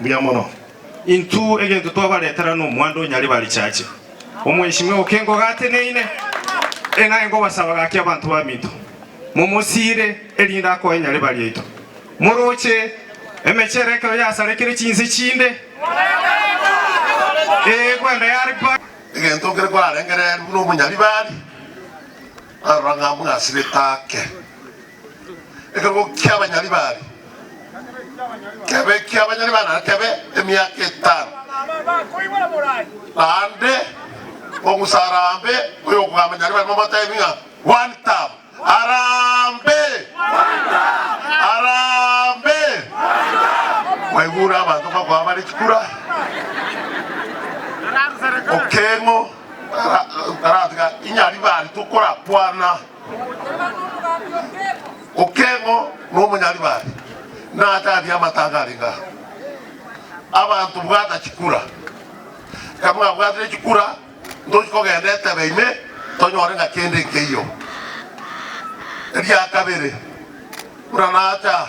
Mbuya mono. Intwe egento twabaretera nomwando o Nyaribari Richache, omwensimwa oke ngogateneine, ng'a nkobasaba gaki abanto baminto momosiire, erinde akoe Nyaribari yaito, moroche emechero ekero yasarekire chinse chinde, ee, kwenda yaripare. Egento kere kwarengereria buna obonyaribari, narora ng'a mbwasirete ake. Ekero ki'abanyari baria kebe ki'abanyari ba nare kebe emiaka etano, naende omusarambe oy'okogambanyari barimo motebi ng'a one term. Harambe! Harambe! Mwaigure abanto bakoa bare chikura, okeng'o, tara- taratiga inyari bari tokorapwana. Okeng'o nomonyaribare, natari amataanga arenge aa. Abanto bwata chikura, kamwabwatire chikura ntochi kogenda etebe ime tonyore ng'a kende nkeiyo. Eria kabere, buna nacha.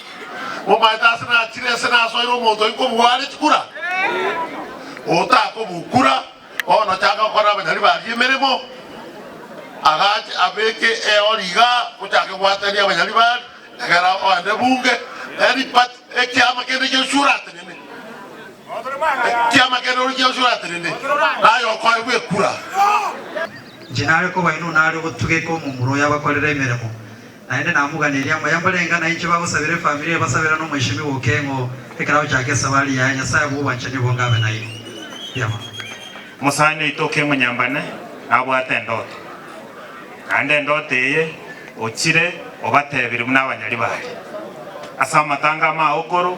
Momaete ase nachire ase nasoire omonto oye kobua are chikura, otakobukura, bono chaka gokora abanyari baria emeremo. Agache abeke eori igaa, ochake goatania abanyari baria, egera oende bunge, eri party, ekiama kende gionsi oratenene, ekiama kende ori gionsi oratenene, naye okoegwa ekura. Inche nare kobainwa nare ogotugeka omomura oyo abakorere emeremo. Naende namoganeria ng'a yambo renga nainche bagosabera efamiri eye basabera n'omwechemi bw'okeng'u ekero agochaka esabari yaye. Nyasaye agwo obwanchani obonge abe nainwe. Mbuya mono. Omosani oito okemonyambane nabwate endoto, naende endoto eye ochire obatebiri buna abanyari baria ase amatanga amaaokoro.